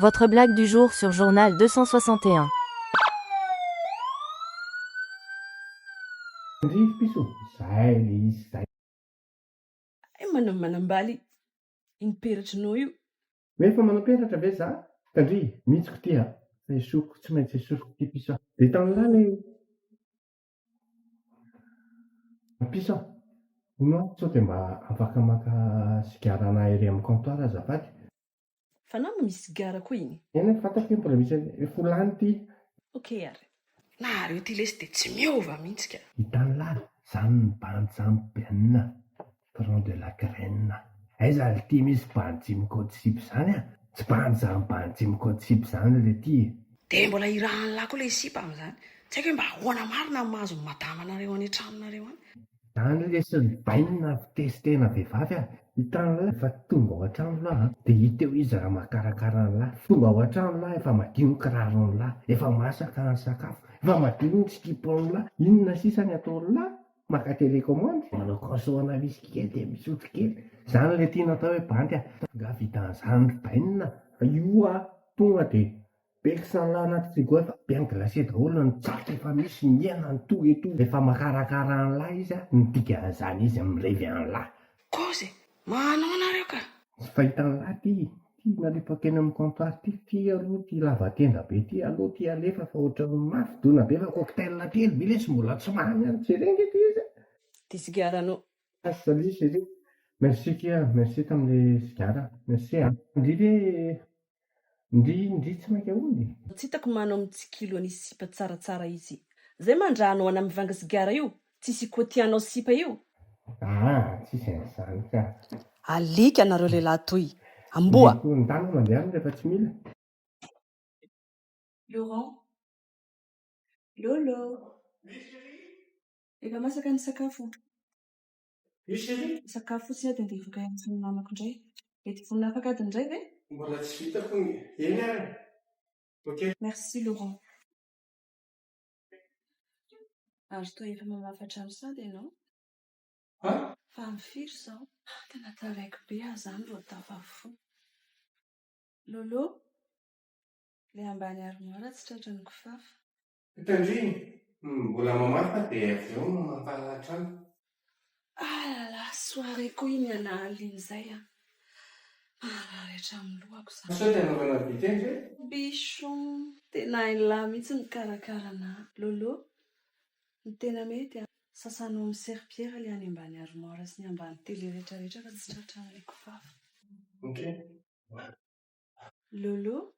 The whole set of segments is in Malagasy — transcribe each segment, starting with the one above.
Votre blague du jour sur journal 261. Hay manam manambaly iny peratrinao io. Hoe efa manam-peratra ve za? Tandria, mitsiko ty a! Fa esoriko, tsy maintsy esoriko ty piso a! Dia tany lahy ilay Mpisa, hono aho sao dia mba afaka maka sigara anah ery amin'ny comptoir azafady? Fa naho misy sigara koa iny? Eny e, fantako io mbola misy eny, efa ho lany ity. Ok ary. Nahareo ity lesy dia tsy miova mihitsy ka. Hitan'lah, zany ny bandy zany Benn a! Tronc de la graine. Aiza lty misy bandy Jim Cotsib zany a? Tsy bandy zany bandy Jim Cotsib zany le ty e. Dia mbola irahan'lah koa ilay sipa amin'izany. Tsy haiko hoe mba ahoana marina no mahazo ny madamanareo any an-tranonareo any. Zany lesin'ny bainina avy testena vehivavy a! Hitan'lah efa tonga ao an-trano lah a! Dia hita eo izy raha mahakarakara an'lah. Tonga ao an-trano lah efa madio ny kiraron'lah, efa masaka ny sakafo, efa madio ny sikipan'lah, inona sisa ny ataon'lah? Maka télécommande, manao cross on misy kely dia misotro kely. Izany ilay tiana atao hoe bandy a! Angaha vita an'izany ry bainina a! Io a! Tonga dia be kisalala anaty frigo efa bien glacé daholo ny tsaka efa misy ny hena ny tout et tout. Efa makarakara an'lah izy a! Ny dikan'izany izy mirevy an'lah. Kozy e! Manao nareo ka! Tsy fahitan'i lahy ty ty nalefa teny amin'ny comptoir ty fy aloha ty lava tenda be ty alou ty alefa fa ohatran'ny mafy dona be fa cocktail telo be lesy mbola tsy mamy any jereo nge ty izy a! Ty sigara no. As salut chérie merci kia merci tamin'le sigara merci a! Ndry ve Ndry ndry tsy mainka hono e. Tsy hitako manao mitsikilo an'i sipa tsaratsara izy. Zay mandra anao ana mivanga sigara io tsisy ikoatianao sipa io. Aa tsisy an'izany ka. Alika nareo lehilahy toy. Amboa. Ny korontany no mandehana rehefa tsy mila. Laurent. Lolo. Efa masaka ny sakafo. Sakafo fotsiny aho dia andeha hivoaka hianatra amin'ny namako indray. Mety vonona afaka adiny iray ve? Mbola tsy vita hono e. Eny ary. Ok. Merci Laurent. Ary toa efa mamafa hatrany sady ianao? An? Fa amin'ny firy izao? Ah, tena taraiky be aho izany vao tafavoa. Lolo, ilay ambany armoire tsy tratran'ny kifafa. Tandremo, mbola mamaly fa dia avy eo mampalala hatrany. Ah la la, soirée koa iny alahalin'ny zay an! Maharary hatramin'ny lohako za. Sao dia anaovana dite ve? Bichon, tena hain'lah mihitsy mikarakara anà. Lolo, ny tena mety an, sasanao amin'ny serpillère ilay any ambany armoire sy ny ambany tele rehetra rehetra fa tsy tratran'ilay kifafa. Ok. Lolo,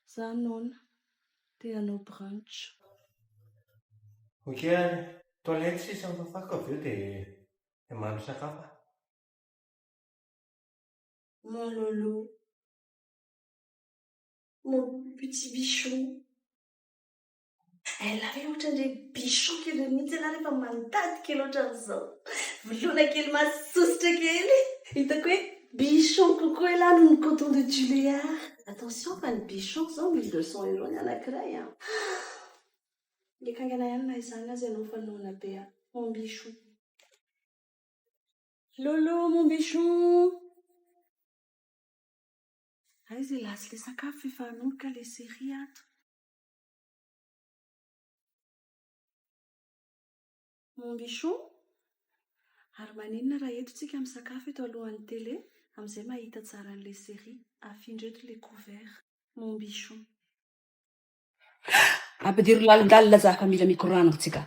za noana te hanao brunch. Ok any toilette sisa ny fafako avy eo dia mandry sakafo aho. Mon Lolo, mon petit bichou. Ella ve ohatran'ireny bichon kely ireny mihitsy ianao rehefa mandady kely ohatran'izao. Voloina kely masososotra kely. Hitako hoe bichon kokoa ialahy noho ny coton de Tuléar. Attention fa ny bichon izao misy deux cents euros ny anankiray an. Mety haingana ihany na izany aza ianao fa noana be an. Mon bichon. Lolo mon bichon. Aiza ialahy sy ilay sakafo efa hanomboka ilay série ato. Mon bichon, ary maninona raha eto tsika misakafo eto alohan'ny tele amin'izay mahita tsara an'le série. Afindra eto le couvert. Mon bichon. Ampidiro lalindalina zaka mila mikoragno tsika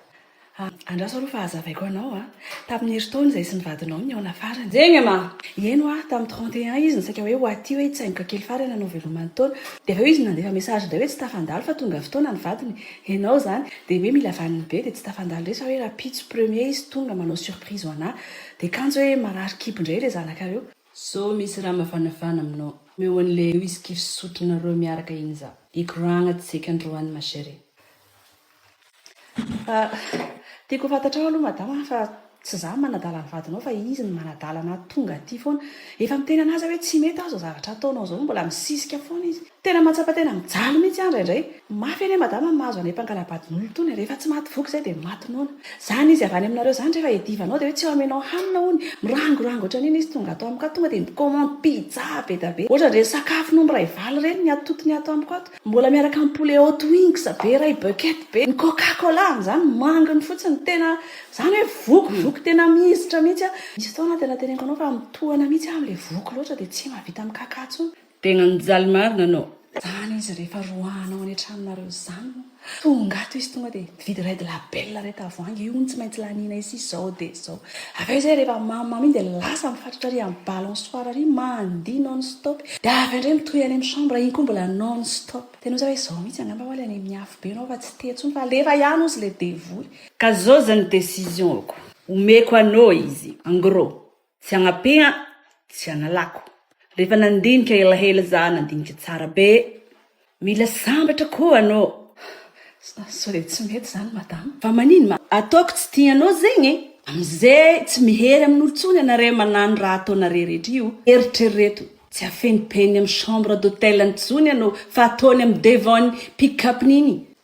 Andraso aloha fa hazavaiko anao a! Tamin'ny herintaona izay sy ny vadinao nihaona farany. Eny e ma! Nihaino aho tamin'ny trente et un izy no saika hoe ho aty hoe hitsaingoka kely farany hanao velomany taona. Dia avy eo izy no nandefa message indray hoe tsy tafandalo fa tonga fotoana ny vadiny. Henao izany. Dia hoe mila vaniny be dia tsy tafandalo irery fa hoe rahampitso premier izy tonga manao surprise ho anà. Dia kanjo hoe marary kibo indray ilay zanakareo. Sao misy raha mavanavana aminao. Omeo an'ilay eo izy kivy sotroinareo miaraka iny za. Hikoragna tsy eky androany ma chérie. Tiako ho fantatrao aloha madama a, fa tsy za no manadala ny vadinao fa izy no manadala anà tonga aty foana. Efa miteny anà za hoe tsy mety aho zao zavatra ataonao zao, mbola misisika foana izy. Tena mahatsapa tena mijaly mihitsy aho indraindray. Mafy anie madama ny mahazo anay mpangalabadin'olona itony a, rehefa tsy maty voky izay dia maty noana. Zany izy avy any aminareo zany rehefa iadivanao dia hoe tsy omenao hanina hono, mirangorango ohatran'iny izy tonga ato amiko ato tonga dia mi-commande pizza be dia be. Ohatrany ireny sakafo nomby raivaly ireny ny atotony ato amiko ato. Mbola miaraka am poulet haut wings be ray bucket be ny coca cola zany manginy fotsiny tena zany hoe voky voky tena mizitra mihitsy a misy fotoana aho tena teneniko anao fa mitohana mihitsy aho amle voky loatra de tsy mahavita mikaka tsony Tegna mijaly marina anao. Zany izy rehefa roahanao any an-tranonareo zany moa. Tonga ato izy tonga dia. Vidy red label red tavoahangy io hono tsy maintsy laniana esi izao dia izao. Avy eo izay rehefa mamy mamy iny dia lasa mifatratra ary amin'ny balançoire ary mandihy non stop dia avy eo indray mitohy any amin'ny chambre iny koa mbola non stop. Tena ozy hoe izao mihitsy angamba ho'a ilay any amin'ny afobe ianao fa tsy teo intsony fa alefa ihany ozy ilay devoly. Ka zao zany decision ko omeko anao izy en gros Tsy agnampe an! Tsy analako. Rehefa nandinika elaela za nandinika tsara be. Mila sambatra koa anô. Sao dia tsy mety zany madama? Fa manino ma? Ataoko tsy tianao zegny e! Amizay tsy mihery amin'olo tsony anare manano raha ataonare rehetra io. Eritrereto, tsy afenipeny am chambre d'hôtel-ny tsony anô fa ataony am devant-ny pick-up-ny igny.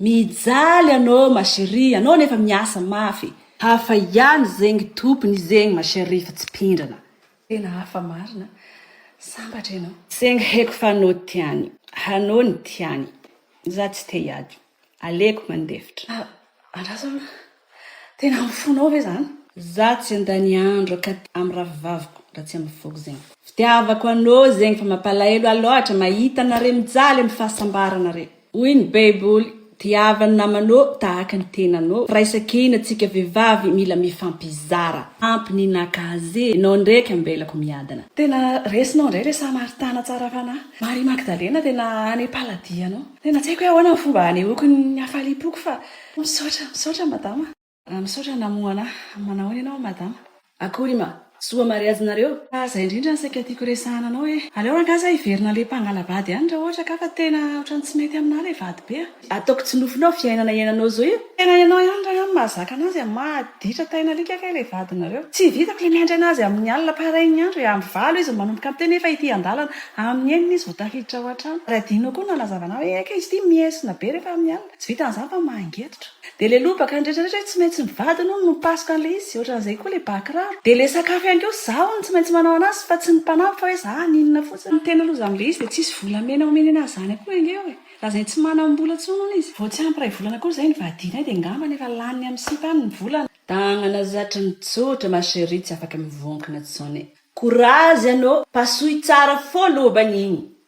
Mijaly anô ma cherie anô nefa miasa mafy. Hafa ihany zegny tompony zegny ma cherie fa tsy pindrana. Tena hafa marina, sambatra enao. Zegny haiko fa anô tiany, hanô ny tiany, za tsy te hiady, aleko mandefitra. Andraso aloha. Tena amin'ny fonao ve zany? Za tsy andany andro akaty am ravivaviko ra tsy am foko zegny. Fitiavako anô zegny fa mapalaelo ah loatra mahita anare mijaly am fahasambarana re. Hoy ny baiboly, tiava ny namanô tahaka ny tenanô. Firaisankina tsika vevavy mila mifampizara. Ampy ny naka azy e. Enao ndraiky ambelako miadana. Tena resinao ndray le samaritana tsara fanahy. Marie Magdalena tena any paladianao. Tena tsy haiko hoe ahoana ny fomba hanehoako ny hafaliam-poko fa. Misaotra, misaotra madama. Misaotra namoha anah. Manahoana ianao madama? Akory ma. Soa mariazy nareo. Fa zay indrindra no saika tiako resahana anao e. Aleo rangah za hiverina le mpangalabady any ra ohatra ka fa tena otrany tsy mety aminah le vady be a. Ataoko tsy nofinao fiainana iananao zao io. Tena ianao ihany rangah no mahazaka anazy a. Maditra taina alika kay le vadinareo. Tsy vitako le miandry anazy amin'ny alina parain'ny andro e. Amin'ny valo izy no manomboka miteny nefa ity andalana. Amin'ny enina izy vao tafiditra ao an-trano. Ary adinonao koa ny nanazava anah hoe eka izy ity miesona be rehefa amin'ny alina. Tsy vitan'izany fa mangetotra. Dia ilay lobaka ny rehetra rehetra hoe tsy maintsy ny vadiny hono no mipasoka an'ilay izy, ohatran'izay koa ilay bà kiraro. Dia ilay sakafo ihany koa izaho hono no tsy maintsy manao an'azy fa tsy ny mpanampy fa hoe izaho haninona fotsiny. Ny tena loza amin'ilay izy dia tsisy volamena omeny an'azy izany akory ange eo e! Lazainy tsy manam-bola intsony hono izy. Vao tsy ampy iray volana akory izay no vadianay dia ngambany efa laniny amin'ny sipa any ny volana. Tagnana zatra ny tsotra ma cherie tsy afaka mivonkona tsony. Courage anô, pasohy tsara fô lobany igny